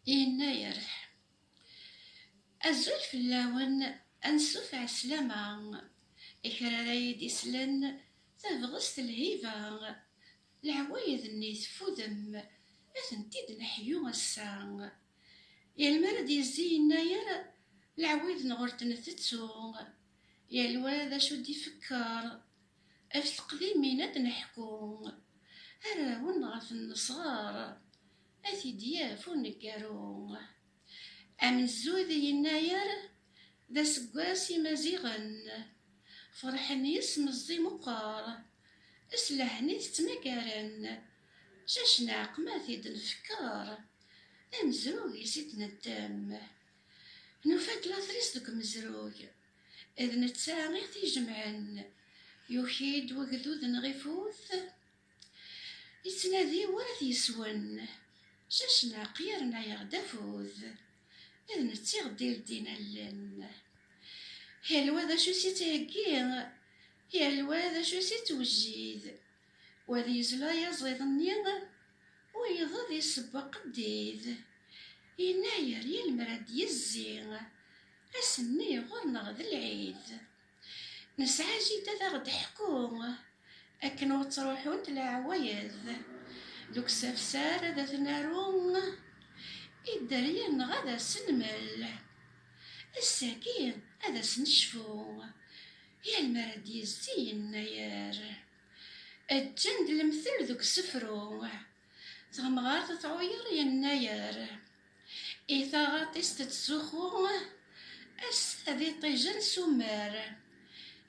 Yennayer, Azul fell-awen, ansuf ɛeslama, i kra ara yi-d-islen, tabɣest, lhiba, leɛwayed-nni teffudem, ad tent-id-neḥyu ass-a. Yal mi ara d-yezzi yennayer, leɛwayed-nneɣ ur d-ntettu, yal wa d acu d-ifekker. Ɣef teqdimin ad d-neḥku, arraw-nneɣ ɣef-n nesɣer. Ad t-id-yaf uneggaru. Amenzug yennayer d aseggas imaziɣen, ferḥen yes meẓẓi meqqer, s lehn i t-ttmagaren, jajj neɛqma t-id nfekker, amzug is id neddem. Nufa-d latris deg umezrug, d netta i t-ijemɛen, yuki-d wegdud neɣ ifut, Yettnadi war ad t-yeswen. Cacnaq yerna-yaɣ-d afud. D netta i ɣ-d-ileddin allen. Yal wa d acu i s-ittheggi. Yal wa d acu i s-ittwejjid. Wa d yezla yaẓiḍ-nni. Wiyeḍ ad iseww aqeddid. Yennayer yal mi ara d-yezzi. Ass-nni ɣur-neɣ d lɛid. Nesɛa jida d aɣ-d-teḥku akken ur ttruḥunt leɛwayed deg usafsar ad t-naru i dderya neɣ ad as-nmel. Ass-agi ad as-necfu yal mi ara d-yezzi yennayer. Ǧǧan-d lemtel deg usefru Tamɣart tɛuyer yennayer. I taɣaṭ-is tettzuxxu ass-a d iṭij-en s ummer.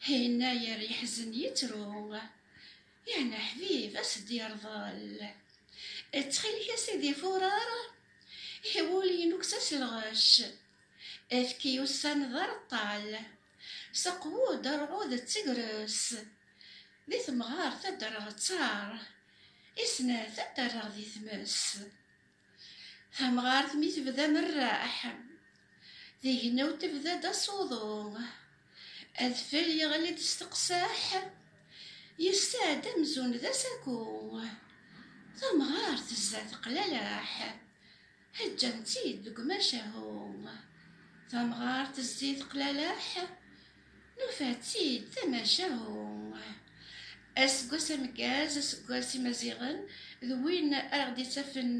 Yennayer yeḥzen yettru, yeɛni aḥbib a s-d-yerḍel. Ttxil-k a sidi furar i wul-inu kkes-as lɣec. Efk i ussan d areṭṭal. S aqwud arɛud d tegres. Di temɣart ad d-rreɣ ttaṛ. I snat ad d-rreɣ di tmes. Tamɣart mi tebda amerreḥ. Tignaw tebda-d aṣuḍu. Adfel yeɣli-d s teqseḥ. Yesɛa-d amzun d asaku. Tamɣart tezza teqlaleḥ. Heǧǧan-tt-id deg umacahu. Tamɣart tezzi teqlaleḥ, nufa-tt-id d amacahu. Aseggas ameggaz, aseggas imaziɣen, d win ara ɣ-d-ittafen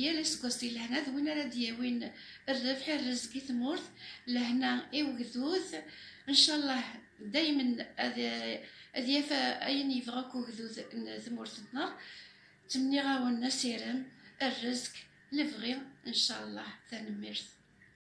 yal aseggas di lehna, d win ara d-yawin rrebḥ, rrezg i tmurt, lehna i ugdud. Ncallah daymen ad yaf ayen yebɣa akk ugdud n tmurt-nneɣ. Ttmenniɣ-awen asirem, rrezq, lebɣi, ncalleh. Tanemmirt.